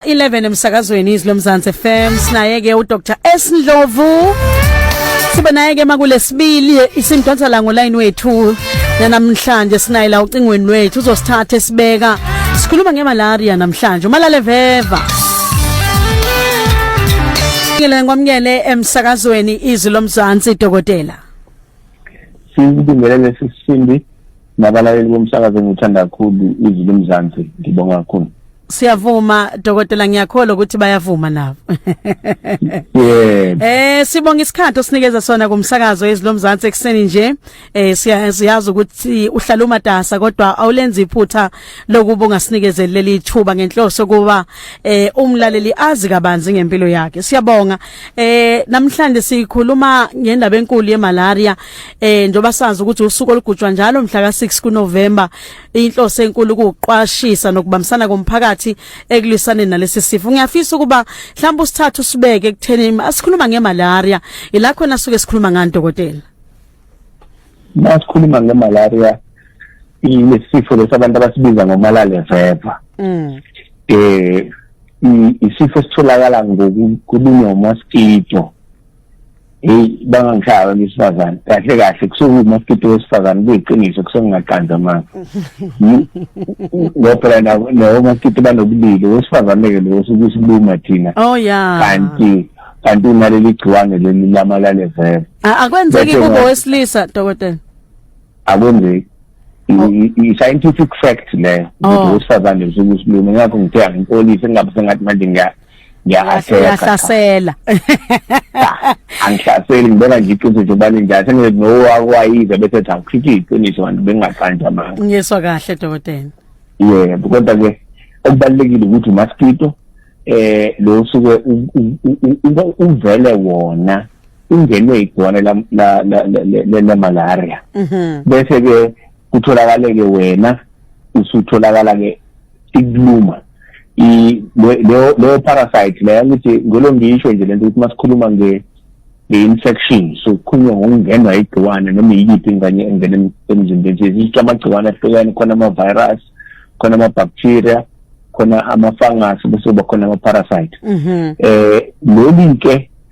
11 emsakazweni izwi lomzansi FM sinaye ke uDr S Ndlovu sibe naye ke makulesibili isimdonsa la ngoline wethu namhlanje sinaye la ucingweni lwethu uzosithatha esibeka sikhuluma ngemalaria namhlanje umalale veva Ngile ngwamukele emsakazweni izwi lomzansi dokotela Sibingelele sisindi nabalaleli bomsakazo engithanda kakhulu izwi lomzansi ngibonga kakhulu siyavuma dokotela ngiyakholwa ukuthi bayavuma nabo yebo eh sibonga isikhathi osinikeza sona kumsakazo ezilomzansi ekseni nje eh siyazi ukuthi uhlala umatasa kodwa awulenzi iphutha lokuba ungasinikezeli leli ithuba ngenhloso kuba eh umlaleli azi kabanzi ngempilo yakhe siyabonga eh namhlanje sikhuluma ngendaba enkulu yemalaria eh njoba sazi ukuthi usuku olugujwa njalo mhla ka6 kuNovember inhloso enkulu ukuqwashisa nokubambisana komphakathi ekulwisane nalesi sifo ngiyafisa ukuba mhlawumbe usithathu sibeke ekutheni asikhuluma ngemalaria ila khona suke sikhuluma ngani dokotela Masikhuluma ngemalaria ilesifo lesabantu abasibiza ngomalale veva mm eh isifo sitholakala ngokulunywa mosquito Hey bangangishaya abantu besifazane kahle kahle kusuke umaskito wesifazane kuyiqiniso kusuke ngingaqanza amanga ngoba phela nabo nabo maskito banobulili wesifazane ke lo usuke usibuma thina oh yeah kanti kanti unaleli gciwane leli lamalale vele A- akwenzeki Bese kubo nga- wesilisa dokotela akwenzeki i-scientific oh. fact leyo ukuthi oh. owesifazane usuke usiluma ngakho ngithe angipolisi ngingabe sengathi manje ngiya ngiyahlasela angihlaseli ngibona nje iqiniso nje ubani njani sengithi nowakwayiza bese ethi awukhiphe iqiniso kanti bengingaqanji amanga ngiyeswa kahle dokotela yebo kodwa-ke okubalulekile ukuthi umaskito eh lo suke uvele wona ungenwe igcwane lemalaria mhm. bese ke kutholakaleke wena usutholakala ke ikuluma leyo parasite leyo ngithi ngolo ngisho nje lento ukuthi masikhuluma nge nge-infection so kukhulunywa ngokungenwa igciwane noma yiyiphi ingane engena emzimbeni nje zisho amagciwane ahlukene khona ama-virus khona ama-bacteria khona ama-fungus bese kuba khona ama-parasite um mhm. eh, lolu-ke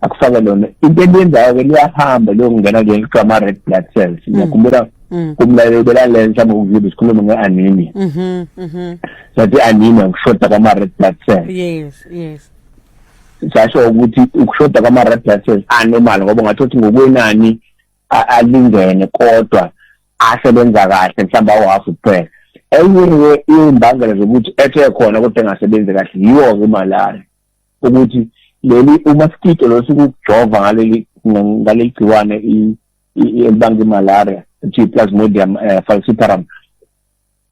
akufake lona into eliyenzayo ke liyahamba liyongena ke kuthiwa ama-red blood cells mm. ngiyakhumbula mm. kumlaleli belalela mhlawumbe ukuzile isikhulumo nge-anemia mm-hmm, mm-hmm. sathi i-anemia ukushoda kwama-red blood cells yes yes sasho ukuthi ukushoda kwama-red blood cells anormal ngoba ungathi ukuthi ngokwenani alingene kodwa asebenza kahle mhlawumbe awu-half kuphela enye imbangela zokuthi ethe khona kodwa engasebenzi kahle yiwo-ke imalaria ukuthi leli umaskito lo sikujova ngaleli ngaleli gciwane elibanga imalaria kuthiwa i-plasmodium eh, falciparum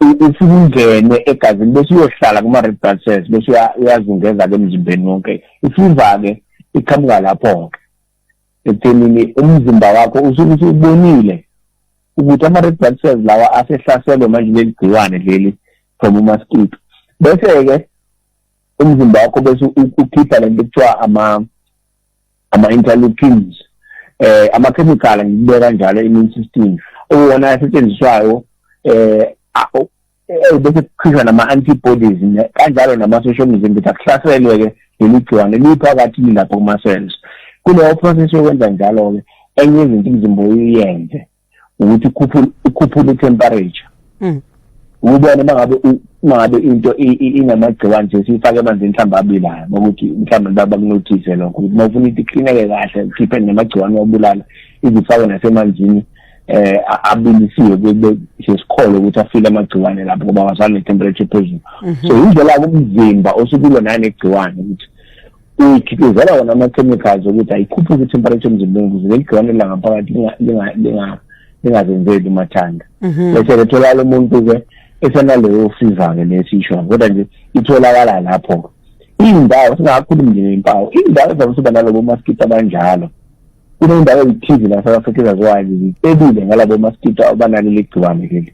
usukungene egazini bese uyohlala kuma-red blood cells bese uyazungeza-ke emzimbeni wonke ifiva-ke iqhamuka lapho-ke ekuthenini umzimba wakho usuke usubonile ukuthi ama-red blood cells lawa asehlaselwe manje leli gciwane leli from umaskito bese-ke umzimba wakho bese ukhipha lento kuthiwa ama ama interleukins eh ama chemical ngibeka njalo immune system uwona asetshenziswayo eh eh bese kukhishwa nama antibodies kanjalo nama social mzimba ukuthi akuhlaselwe ke leli gciwane liphakathi lapho kuma cells kuleyo process yokwenza njalo ke enye izinto umzimba uyenze ukuthi ukhuphule temperature mm. ubone mangabe mangabe into inamagciwane nje siyifake emanzini mhlawumbe abilayo ukuthi mhlawumbe baba kunothise lokho ukuthi uma ufuna ukuthi iklineke kahle ukhiphe namagciwane obulala izifake nasemanzini eh abilisiwe kube sesikhole ukuthi afile amagciwane lapho ngoba wazana ne temperature phezulu mhm. so indlela umzimba osukulo nane gciwane ukuthi kukhiqizela wona ama-chemicals ukuthi ayikhuphuke i-temperature emzimbeni ukuze leli gciwane langaphakathi lingazenzeli umathanda mhm. bese letholakala umuntu-ke esenaleyo fever-ke lesisho kodwa nje itholakala lapho-ke iy'ndawo singakhulumi nje ngempawu iy'ndawo ezabe siba nalobo maskito abanjalo kunendawo ezithize la south africa ezaziwayo zicebile ngalabo maskito abanalo leli gciwane leli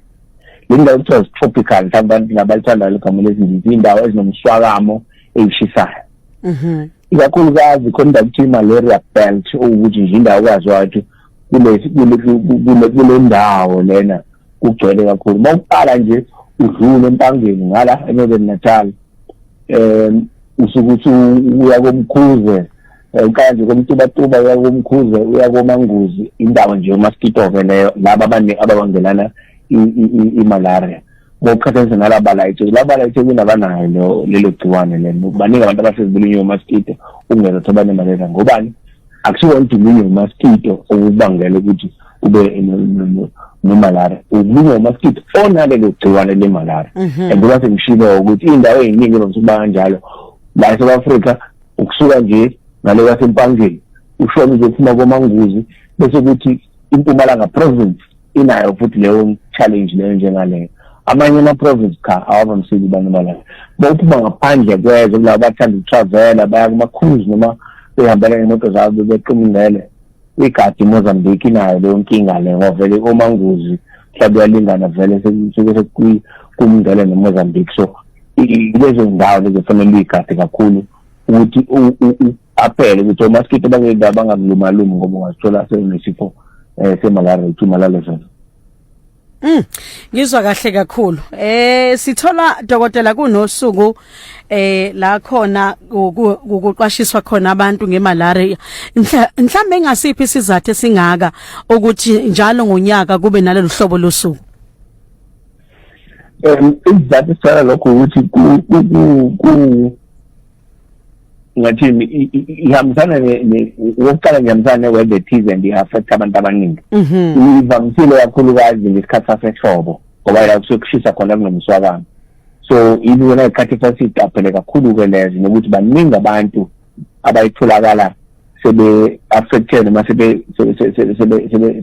le ndawo kuthiwa zi-tropical mhlawumbe abantu nabalithanda legamela ezindizi iy'ndawo ezinomswakamo eyishisayo mhm ikakhulukazi khona ukuthi malaria belt ukuthi nje indawo kwazi wathi kulesi kule kule ndawo lena kugcwele kakhulu mawuqala nje udlule empangeni ngala eNorthern Natal em usuke uthi uya komkhuze eh, uqala nje komtubatuba uya komkhuze uya komanguzi indawo nje umaskito ke leyo laba abaningi ababangelana i-malaria ngokuqhathanisa nalaba la eThekwini laba la eThekwini abanayo lo lelo gciwane lelo baningi abantu abasezibulunywe umaskito ukungeza thobane maleza ngobani akusiwona udulunywe umaskito okubangela ukuthi ube nomalaria ukulunywa umaskito onalelo gciwane lemalaria mhm. and kuba sengishilo ukuthi iy'ndawo ey'ningi evamise ukuba kanjalo la e-south africa ukusuka nje ngale kwasempangeni ushona uzophuma komanguzi bese kuthi impumalanga province inayo futhi leyo challenge leyo njengaleyo amanye ama-province cha awavamisile abantu balala bophuma ngaphandle kwezwe kulabo bathanda ukutravela baya kuma-cruise noma behambela imoto zabo bequmngele igadi imozambique inayo leyo nkinga le ngovele omanguzi mhlawumbe uyalingana vele sekusuke sekumngele nemozambique so lezo ndawo lezo fanele uyigade kakhulu ukuthi aphele ukuthi omaskito bangeke bangakulumalumi ngoba ungazithola sekunesifo um eh, semalaria ithuma lalesona Mm. Ngizwa kahle kakhulu. Eh sithola dokotela kunosuku eh la khona ukuqwashiswa khona abantu ngemalaria. Mhlambe engasiphi sizathu singaka ukuthi njalo ngonyaka kube nalolu hlobo losuku. Em izathu sala lokho ukuthi ku ku ku ngathini ihambisana okokuqala ngihambisana ne-word ethize and i-affect abantu abaningi mhm. ivamisile kakhulukazi ngesikhathi sasehlobo ngoba la kusuke kushisa khona kunomswakamo so ibona isikhathi sasiyiqaphele kakhulu-ke lezo nokuthi baningi abantu abayitholakala sebe-affected noma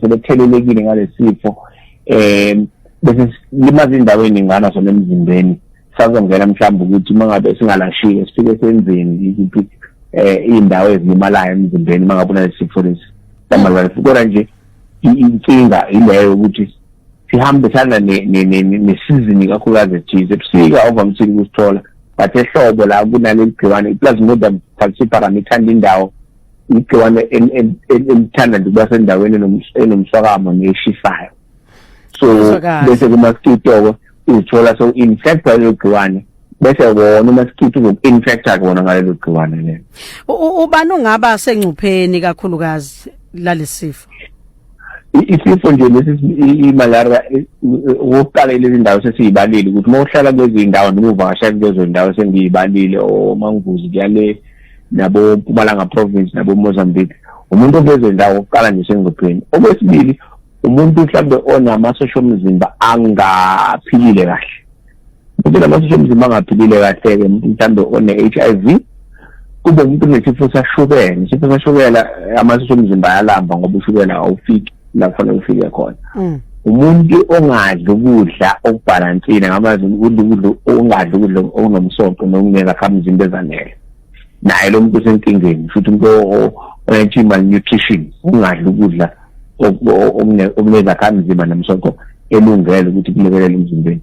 sebethelelekile ngalesi sifo um bese limaza indawo eningana sona emzimbeni sazongena mhlawumbe ukuthi uma ngabe singalashile sifike senzeni yiziphi um eh, iy'ndawo ezilimalayo emzimbeni uma ngabe unalesifo lesi samalwane kodwa nje inkinga ileyo ukuthi sihambisana nesizini kakhulukazi ethize ebusika ovamisile ukusithola but ehlobo la kunaleli gciwane iplasmodium falciparum ithanda indawo igciwane elithanda nje ukuba sendaweni enomswakamo neshisayo so bese kumaskito uzithola so infect lelo gciwane bese wona umaskito uzoku-infecta kona ngalelo gciwane lelo ubani ungaba sengcupheni kakhulukazi lalesifo isifo nje lesi imalaria ukuqala lezi ndawo sesiyibalile ukuthi uma uhlala kwezindawo noma uvakasha kulezo ndawo sengiyibalile omanguzi kuyale nabo mpumalanga province nabo mozambique umuntu okwezo ndawo ukuqala nje sengcupheni okwesibili umuntu mhlawumbe onamasosha omzimba angaphilile kahle umuntu onamasosha omzimba angaphilile kahle-ke umuntu mhlawumbe one-h i v kube umuntu unesifo sashukela isifo sashukela amasosha omzimba ayalamba ngoba ushukela awufiki la kufanele ufike khona mm. umuntu ongadli ukudla okubhalansile ngamazi ukudla ukudla ongadli ukudla okunomsoco nokunika khamzimba ezanele naye lo muntu osenkingeni futhi umuntu oyentsha i-malnutrition ungadli ukudla okunezakhamzimba nomsoco elungele ukuthi kulekelele emzimbeni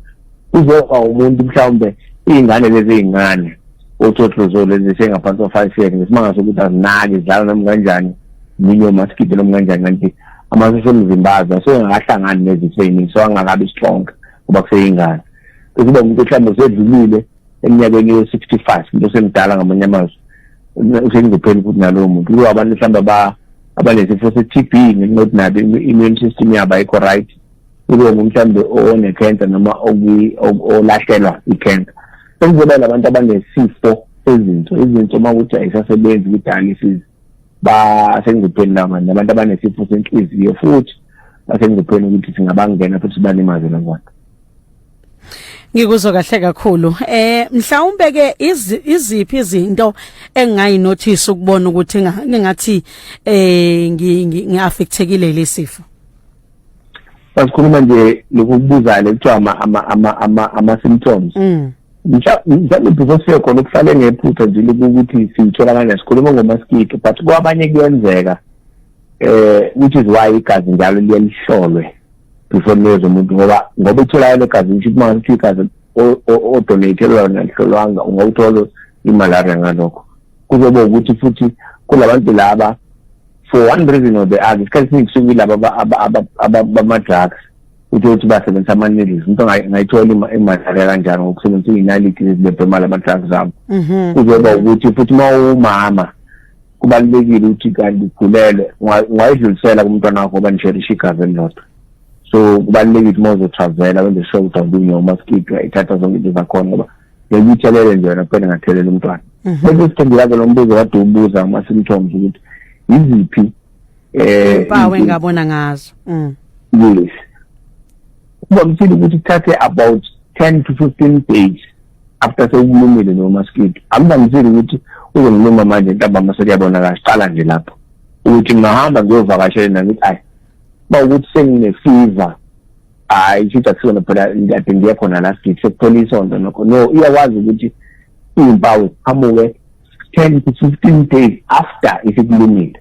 uzoba umuntu mhlawumbe iy'ngane lezi ey'ncane othotlozolo lezi sengaphansi kwa-five years ngesimanga sokuthi azinaki zidlala noma kanjani minye omasikide noma kanjani kanti amasosha omzimba azo asengakahlangani nezitho ey'ningi so angakabi strong ngoba kuseyingane kuzoba umuntu mhlawumbe usedlulile eminyakweni yo-sixty five into osemdala ngamanye amazwi usengizopheli futhi nalowo muntu kulo abantu mhlawumbe aba abanesifo se-t b ngenxa yokuthi nabo i-immune system yabo ayikho right kulowo muntu mhlawumbe one-cancer noma olahlelwa i-cancer sekuzoba labantu abanesifo sezinso izinso uma ukuthi ayisasebenzi kwi-dialysis basengcupheni laba nabantu abanesifo senhliziyo futhi basengcupheni ukuthi singabangena futhi sibalimazela kwakhe Ngikuzwa kahle kakhulu. Eh mhlawumbe ke iziphi izinto engayi notice ukubona ukuthi ngingathi eh ngiaffectekile lesifo. Basikhuluma nje lokubuza lekuthiwa ama ama ama ama, ama symptoms. Mm. Mhlawumbe before siye khona ukuhlale ngephutha nje ukuthi sithola kanjani sikhuluma ngomaskito but kwabanye kuyenzeka eh which is why igazi njalo liyelihlolwe. before niweze umuntu ngoba ngoba itholakala egazini kusho ukuthi uma ngathi igazi odonatele lona lihlolwanga ungawuthola imalaria ngalokho kuzobe ukuthi futhi kulabantu laba for one reason or the other isikhathi esiningi kusuke ilaba bama-drugs uthe ukuthi basebenzisa ama-needles umuntu angayithola imalaria kanjani ngokusebenzisa iy'naliti lezibebhemala ama-drugs abo mhm. kuzoba ukuthi futhi uma uwumama kubalulekile ukuthi kanti ukhulelwe ungayidlulisela kumntwana wakho oba nisherishe igazi elilodwa so kubalulekile uma uzotravela wenze sure ukuthi awulinye umaskito ithatha zonke into zakhona ngoba ngeke uyithelele nje wena kuphela ngathelela umntwana mhm. bese siphendulake lo mbuzo kade ubuza uma simthombe ukuthi yiziphi um eh, impawu engabona ngazo mm. yes kuvamisile ukuthi kuthathe about ten to fifteen days after sewumlumile lowo maskidi akuvamisile ukuthi uzongiluma manje ntambama sekuyabonakala siqala nje lapho ukuthi ngingahamba ngiyovakashela na ngithi ayi ba ukuthi senginefiva hayi shuthi akusona phela kade ngiye khona la sithi sekuphela isonto nokho no iyakwazi ukuthi iy'mpawu ziqhamuke ten to fifteen days after isikulungile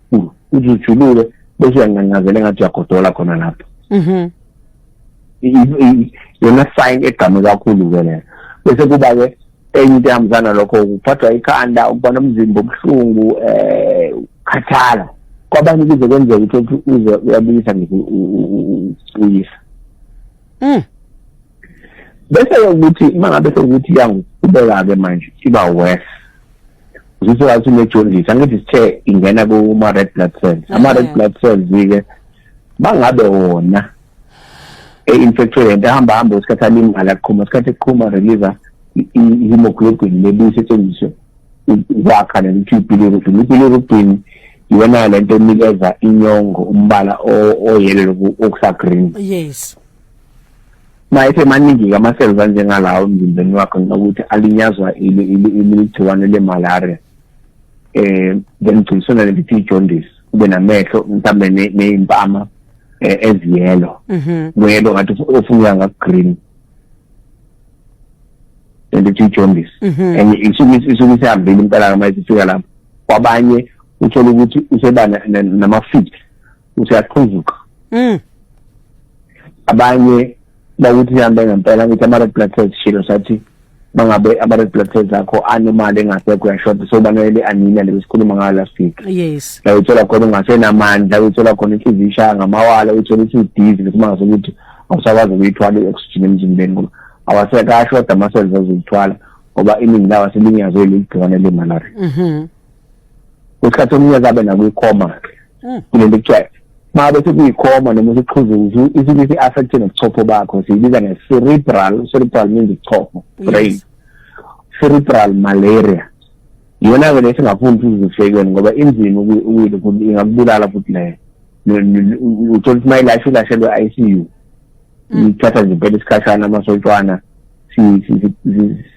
kakhulu uthi ujuluke bese uyancancazela engathi uyagodola khona lapho mhm yona sign egqame kakhulu ke leyo bese kuba ke enye into ehambisana lokho kuphathwa ikhanda ukuba nomzimba obuhlungu um eh, khathala kwabanye kuze kwenzeka ukuthi uze uyabuyisa nje uyisa mm. bese ukuthi uma ngabe sekuthi iyangiqhubeka-ke manje iba worse zisengathi unejondisi angithi sithe ingena kuma-red blood cells ama-red mm. blood cells-ke bangabe wona e-infectwe lento ahamba hamba usikhathi alimala kuqhuma isikhathi kuqhuma release i-hemoglobin lebuye isetshenziswe ukwakha leli two billion ukuthi leli billion ukugcina iyona lento enikeza inyongo umbala oyelelo okusa green yes mayethe maningi ama cells anjengalawo emzimbeni wakho ngokuthi alinyazwa iligciwane le malaria eh then gcisona lelithi jaundice ube namehlo mhlambe nezimpama eh, eziyelo mhm. kuyelo ngathi ufuna ngaku green ngithi ijaundice mhm. and isuke isuke isihambile impela noma isifika lapho kwabanye uthola ukuthi useba namafit useyaqhuzuka mm. abanye bakuthi sihambe ngempela ukuthi ama-red blood cells shilo sathi mangabe ama-red blood cells akho anomali engasekho uyashoda so banele anina le sikhuluma ngayo last week yes la uthola khona ungasenamandla uthola khona inhliziyo ishaya ngamawala uthola ukuthi udizi bese mangasokuthi awusakwazi ukuyithwala i-oxygen emzimbeni ngoba awasekasho kodwa amaselves azoyithwala ngoba iningi lawo aselinyazwe leli gciwane lemalaria mhm. kwesikhathi omunye kabe nakwikhoma-ke mm. kulento kuthiwa uma bese kuyikhoma noma sekuqhuzuza isike si-affecte nobuchopho bakho siyibiza nge-cerebral cerebral means ichopho brain cerebral malaria yona-ke le singafuni sizifekeni ngoba inzima ingakubulala futhi leyo uthola ukuthi uma ilashe ilashelwe i c u mm. ithatha nje impela isikhashana amasontshwana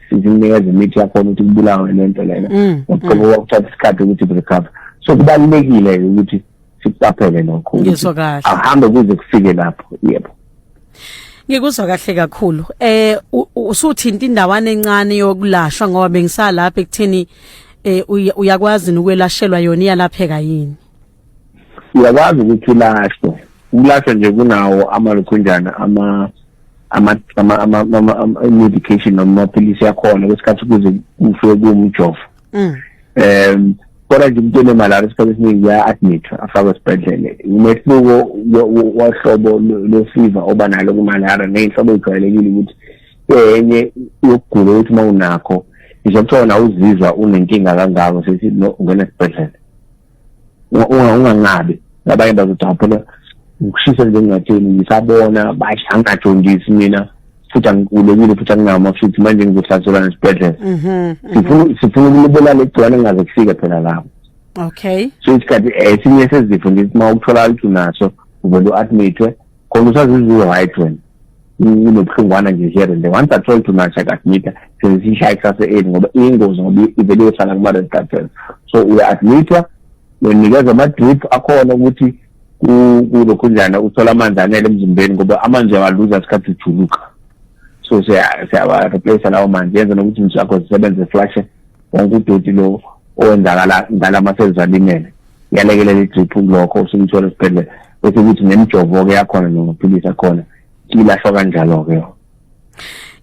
sizinikeza imithi yakhona ukuthi kubulawe le nto lena mm, ngoba mm. wakuthatha isikhathi ukuthi recover so kubalulekile-ke ukuthi sikuqaphele lokho ngizwa kahle ahambe kuze kufike lapho yebo ngikuzwa kahle kakhulu eh usuthinta indawana encane yokulashwa ngoba bengisalapha ekutheni eh uyakwazi ukwelashelwa yona iyalapheka yini uyakwazi ukuthi ulashwe ukulashwa nje kunawo amalukhunjana ama ama ama ama medication noma amaphilisi yakhona kwesikhathi kuze kufike kumjovo mm. um kodwa nje umuntu onemalaria isikhathi esiningi uya-admithwa afakwe esibhedlele umehluko wohlobo losiva oba nalo kumalaria neyinhlobo eyijwayelekile ukuthi enye yokugula ukuthi uma unakho ngisho kuthiwa wona uzizwa unenkinga kangako sithi no ungena esibhedlele ungangabi abanye bazothi phela ngikushisa njengatheni ngisabona basho angajondisi mina futhi angikhulekile futhi anginama futhi manje ngizohlaselwa nesibhedlela mhm, mhm. sifuna ukulibela legcwane ngaze kufike phela lapho okay so isikhathi eh, esinye sezifo ngithi uma ukutholakala ukuthi unaso uvele u-admithwe khona usazizuwe-right wena kunobuhlungwana nje here and there once i told too much akasimita senzisishaye kusase eli ngoba iyingozi ngoba ivele iyohlala kuma-red blood cells so uya-admithwa unikeza ama-drip akhona ukuthi kulokhunjana uthola amanzi anele emzimbeni ngoba amanzi uyawaluza isikhathi ujuluka so siyawa-replace lawo manzi yenza nokuthi izinto zakho zisebenze flashe wonke udoti lo owenzakala ngala masezizwalimele yalekelela idrip kulokho usumthola esibhedlela bese kuthi nemjovo-ke yakhona namaphilisi akhona ilahlwa kanjalo-ke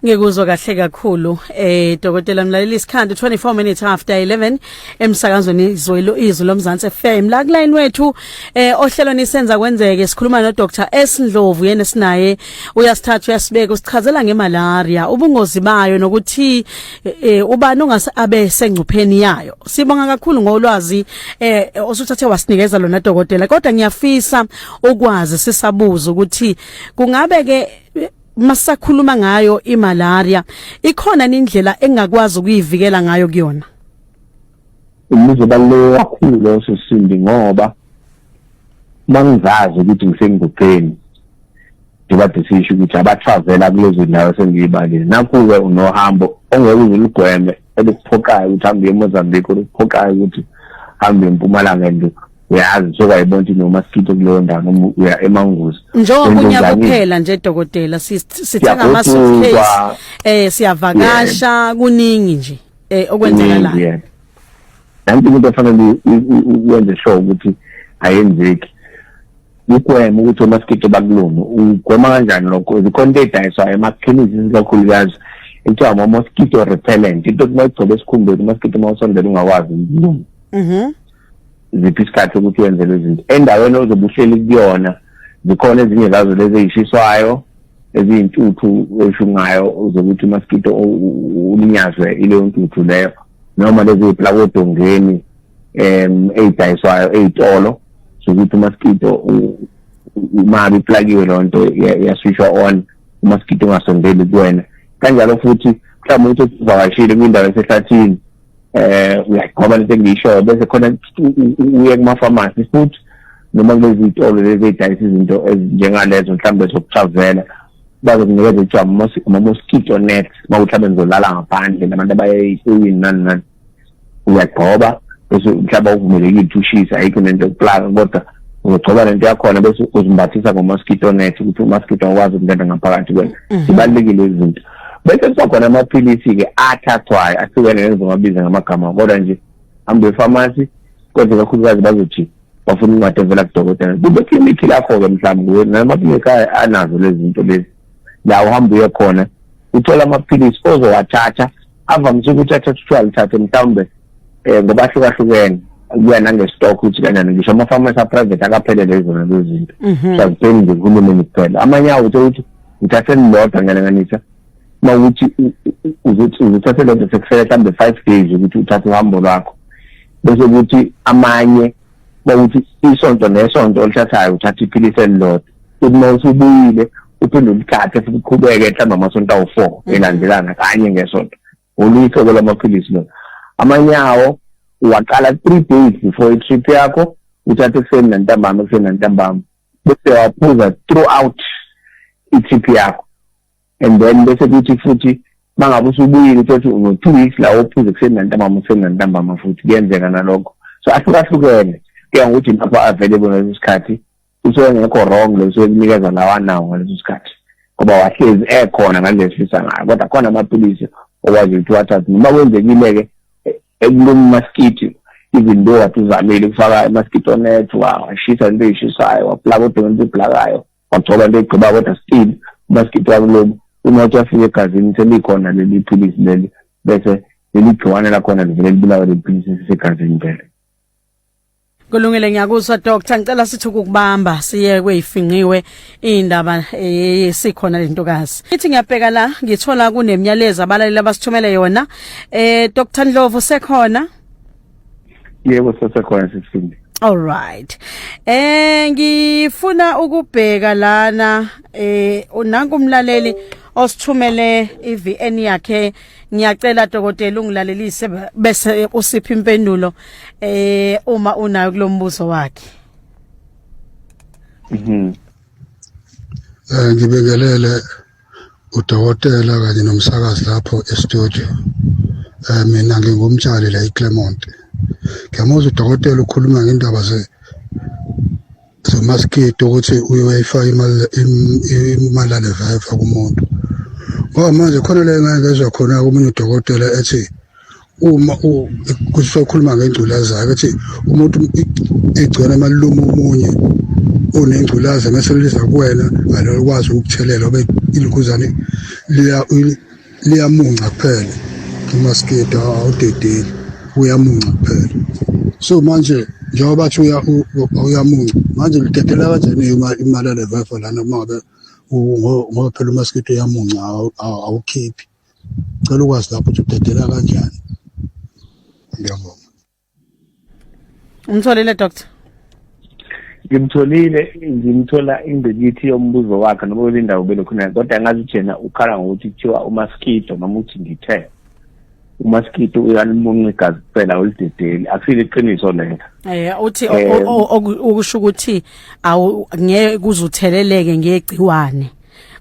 ngikuzwa kahle kakhulu eh dokotela mlaleli isikhandu 24 minutes after 11 emsakazweni izwelo izwi lomzansi FM la kulayini wethu eh ohlelo nisenza kwenzeke sikhuluma no Dr S Ndlovu yena sinaye uyasithatha uyasibeka usichazela ngemalaria ubungozi bayo nokuthi eh, eh ubani ongase abe sengcupheni yayo sibonga kakhulu ngolwazi eh osuthathe wasinikeza lona dokotela kodwa ngiyafisa ukwazi sisabuza ukuthi kungabe ke masakhuluma ngayo imalaria ikhona indlela engakwazi ukuyivikela ngayo kuyona Imibuzo ebaluleke kakhulu leyo sesindi ngoba mangizazi ukuthi ngisenguqeni ngiba decision ukuthi abatravela kulezo ndawo esengiyibalile nakhu-ke unohambo ongeke uze uligweme elikuphoqayo ukuthi hambe uye emozambique olikuphoqayo ukuthi hambe empumalanga and uyazi sokwayibona ukuthi noma sitho kuleyo ndawo noma uya emanguzi njengoba unyaka uphela nje dokotela sithenga ama-suitcase um siyavakasha kuningi nje eh okwenzekalayo yeah nanti into efanele uwenze sure ukuthi ayenzeki ugwema ukuthi omasikeke bakulona ugwema kanjani lokho zikhona into edayiswayo emakhemisi isikakhulukazi kuthiwa ama-mosquito repellent into ukuthi mayigcobe esikhumbeni umasikeke uma usondela ungakwazi ukuluma mhm. ziphi isikhathi ukuthi wenzelwe izinto endaweni ozobe uhleli kuyona zikhona ezinye zazo lezi eyishiswayo eziyintuthu oshungayo zokuthi umaskito ulinyazwe ileyo ntuthu leyo noma lezi plakodongeni um eyidayiswayo eyitolo sokuthi umaskito uma biplakiwe loo nto yaswishwa on umaskito ungasondeli kuwena kanjalo futhi mhlawumbe ukuthi usivakashile kwindawo esehlathini eh uyagcoba lento engiyishoyo bese khona uye kuma-pharmacy futhi noma kulezitolo lezi ey'dayisa izinto ezinjengalezo mhlawumbe zokutravela bazokunikeza kuthiwa ama-mosquito net uma kuthi abe ngizolala ngaphandle nabantu abayeyini nani nani uyagcoba bese mhlawumbe awuvumelekile ukuthi ushise ayikho nento yokuplaka kodwa uzogcoba lento yakhona bese uzimbathisa ngo-mosquito net ukuthi u-mosquito awukwazi ukungena ngaphakathi kwena mm-hmm. zibalulekile izinto bese kuba khona amaphilisi-ke athathwayo ahlukene ngengizomabiza ngamagama kodwa nje hambe efamasi kodwa kakhulukazi bazothi bafuna incwadi evela kudokotela kube klinikhi lakho-ke mhlawumbe kuwe namaklinikhi anazo lezi zinto lezi la uhamba uye khona uthola amaphilisi ozowathatha avamise ukuthi athatha kuthiwa lithathe mhlawumbe um ngoba ahlukahlukene kuya nangestock ukuthi kanjani ngisho ama-farmers aprivate akaphelele izona lezo zinto mhm. sazitheni nje kuhulumeni kuphela amanye awo uthe ukuthi ngithathe lilodwa ngiyalinganisa uma ukuthi uzothathe lodwa sekufele mhlawumbe five days ukuthi uthathe uhambo lwakho bese ukuthi amanye bawuthi isonto nesonto olithathayo uthatha iphilisi elilodwa futhi uma usubuyile uphinde ulithathe futhi uqhubeke mhlawumbe amasonto awu-four mm. elandelana kanye ngesonto oluyihlobo lamaphilisi lona amanyawo uwaqala three days before i-trip yakho uthathe ekuseni nantambama ekuseni nantambama bese waphuza throughout i-trip yakho and then bese kuthi futhi mangabe usubuyile usethi uno-two weeks la ophuze ekuseni nantambama ekuseni nantambama futhi kuyenzeka nalokho so ahlukahlukene kuya ngokuthi lapho available ngaleso sikhathi usuke engekho wrong lo usuke kunikeza lawa nawo ngaleso sikhathi ngoba wahlezi ekhona ngalesisa ngayo kodwa khona amaphilisi okwazi ukuthi wathathe noma kwenzekile-ke ekuluma umaskithi even though wathi uzamile ukufaka amaskithi onet washisa into eyishisayo waplaka odonga into eblakayo wagcoba into egqiba kodwa still umaskithi wakuluma uma uthi wafika egazini selikhona leli philisi leli bese leli gciwane lakhona livele libulawe leli philisi sisegazini vele Kulungile ngiyakuzwa doctor ngicela sithi ukubamba siye kweyifinqiwe indaba eh, sikhona lentokazi. Ithi ngiyabheka la ngithola kunemyalezo abalaleli abasithumele yona. Eh Dr Ndlovu sekhona? Yebo sesekhona sisindi. All right. Eh ngifuna ukubheka lana eh unanku umlaleli osithumele iVN yakhe Ngiyacela dokotela ungilalelise bese usipha impendulo eh uma unayo kulombuzo wakhe. Mhm. Eh ngibingelele udokotela kanye nomsakazi lapho e-studio. Eh mina ngingumtshali la eClermont. Ngiyamuzwa udokotela ukhuluma ngendaba ze zamaskidi ukuthi uyoyifaka imalale veva kumuntu ngoba manje khona le ngeke ezwa khona komunye udokotela ethi uma kusokhuluma ngengculazi yakhe ethi umuntu igcona emaluma omunye unengculazi mese liza kuwena ngalokwazi ukuthelela obe ilukuzane liya liyamunca kuphela umaskito awudedeli uyamunca kuphela so manje njengoba bathi uyamunca manje lidedela kanjani imali yalevefa lana uma ngabe ngoba phela umaskito uyamunca awukhiphi cela ukwazi lapho ukuthi udedela kanjani ngiyabonga umtholile doctor ngimtholile ngimthola ingqikithi yombuzo wakhe noma kwelindawo belokhona kodwa ngazi jena ukhala ngokuthi kuthiwa umaskido noma uthi ngithe umaskido uyalimunca igazi kuphela ulidedeli akusile iqiniso lelo eh uthi eh, okusho ukuthi awu ngeke kuzutheleleke ngegciwane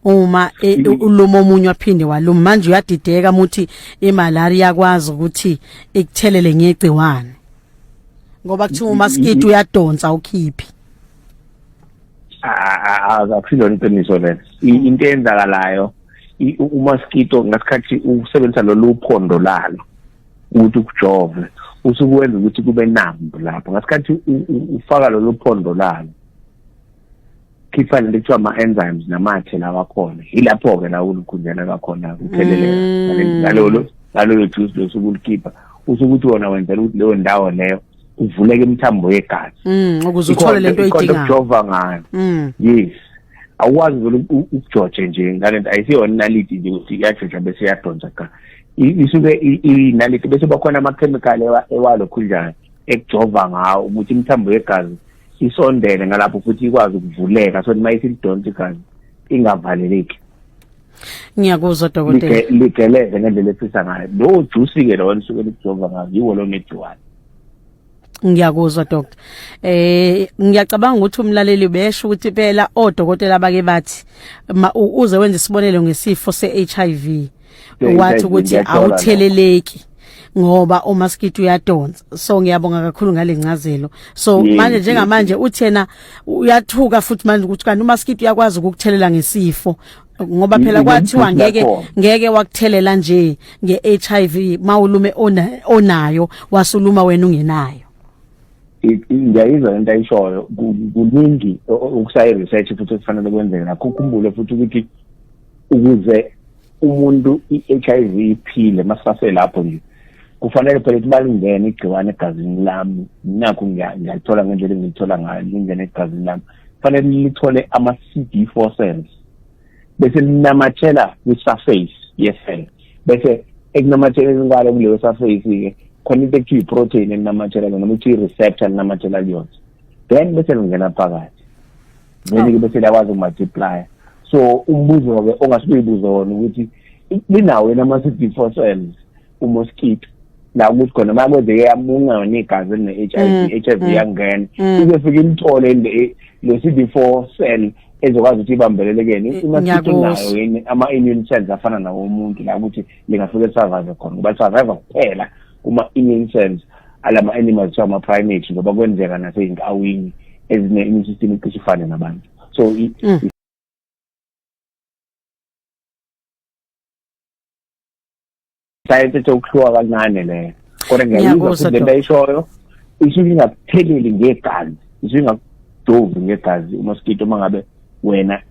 uma e, mm. uluma omunye waphinde waluma manje uyadideka muthi imalaria yakwazi ukuthi ikuthelele ngegciwane ngoba kuthiwa umaskiti mm-hmm. uyadonsa ukhiphi akusilona iqiniso lelo into eyenzakalayo umaskito ngasikhathi usebenzisa lolu phondo lalo ukuthi ukujove usukuwenza ukuthi kube nambu lapho ngasikhathi ufaka lolu phondo lalo khipha lento kuthiwa ama-enzymes namathe lawa khona yilapho-ke la ulukhunjana lwakhona kutheleleka mm. ngalolo ngaloyo juice losuke ulikhipha usuke ukuthi wona wenzela ukuthi leyo ndawo leyo kuvuleke imithambo yegazi mm, ukuze uthole lento oyidingayo ukujova ngayo mm. yes awukwazi vele ukujoje nje ngalento ayisiyona inaliti nje ukuthi iyajoja bese iyadonsa cha isuke inaliti bese bakhona amakhemikhali ewalokhunjana ekujova ngawo ukuthi imithambo yegazi isondele ngalapho futhi ikwazi ukuvuleka so uma isilidonsa igazi ingavaleleki ngiyakuzwa dokotela ligeleze ngendlela efisa ngayo lowo jusi-ke lowo elisuke likujova ngayo yiwo lo negciwane ngiyakuzwa doctor eh ngiyacabanga ukuthi umlaleli besho ukuthi phela odokotela bake bathi uze wenze isibonelo ngesifo seHIV wathi ukuthi awutheleleki ngoba umaskiti uyadonsa so ngiyabonga kakhulu ngalencazelo so yes, manje njengamanje uthena uyathuka futhi manje ukuthi kanti umaskiti uyakwazi ukukuthelela ngesifo ngoba phela kwathiwa ngeke ngeke wakuthelela nje ngeHIV mawulume onayo wasuluma wena ungenayo ngiyayizwa into ayishoyo kuningi okusayi research futhi okufanele kwenzeke nakho ukhumbule futhi ukuthi ukuze umuntu i-HIV iphile masase lapho nje kufanele phela ukuthi balingene igciwane egazini lami nakho ngiyalithola ngendlela engilithola ngayo lingene egazini lami kufanele lithole ama-cd four cells bese linamathela kwi-surface ye-cell bese ekunamatheleni kwalo kuleyo surface-ke khona into ekuthiwa i-protein elinamathela noma kuthiwa i-receptor elinamathela kuyona then bese lingena phakathi then-ke bese liyakwazi ukumultiplya so umbuzo-ke ongase uyibuze wona ukuthi linawo yena ama-c d four cells umosquito la ukuthi khona uma kwenzeke yamunca yona igazi eline-h i v i-h i v mm, mm, yangena mm. izofike ilithole le-c d four cell ezokwazi ukuthi ibambelelekeni imasito nayo yini ama-immune cells afana nawo umuntu la ukuthi lingafike lisurvive khona ngoba lisurvive kuphela kuma-immune cells alama animals kuthiwa ama-primate ngoba kwenzeka nasey'nkawini ezine-immune system icishe ifane nabantu so mm. science ethe ukuhluka kancane leyo kodwa ngiyayizwa futhi lento ayishoyo isuke ingakutheleli ngegazi isuke ingakudovi ngegazi umoskito uma ngabe wena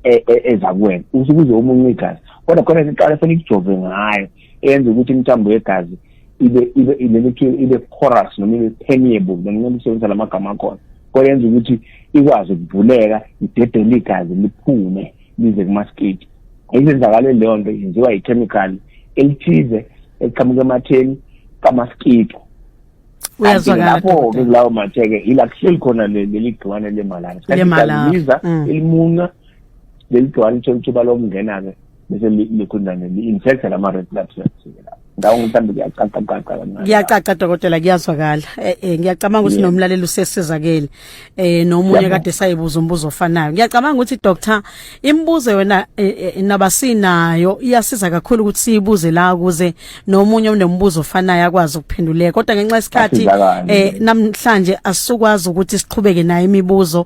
e, e, eza kuwena usuke uze omunye igazi kodwa khona iqala fanele ikujove ngayo eyenza ukuthi imithambo yegazi ibe ibe ilelethiwe ibe porous noma ibe permeable noma ngincela ukusebenzisa la magama akhona kodwa yenza ukuthi ikwazi ukuvuleka idedele igazi liphume lize kumasketi izenzakalo leyo nto yenziwa yi-chemical elithize eliqhamuka ematheni kamaskito lapho-ke kulawo mathe-ke yila kuhleli khona leli gciwane lemalaria sikhathi liza mm. elimunca leli gciwane ithola ithuba lokungena-ke bese likhundane li-infecta lama red blood cells ndawo mhlawumbe kuyacaca caca kancane kuyacaca dokotela kuyazwakala eh, eh ngiyacabanga ukuthi nomlaleli usesizakele eh nomunye kade sayibuza umbuzo ofanayo ngiyacabanga ukuthi doctor imibuzo yona eh, eh, nabasinayo iyasiza kakhulu ukuthi siyibuze la ukuze nomunye onombuzo ofanayo akwazi ukuphenduleka kodwa ngenxa yesikhathi eh namhlanje asukwazi ukuthi siqhubeke naye imibuzo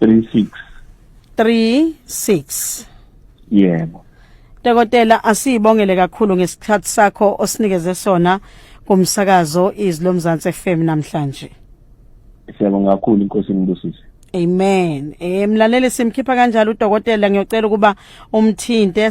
36 36 yebo Dokotela asibongele kakhulu ngesikhathi sakho osinikeze sona kumsakazo izlo Mzansi FM namhlanje Siyabonga kakhulu inkosi inibusise Amen. Eh mlaleli simkhipha kanjalo udokotela ngiyocela ukuba umthinte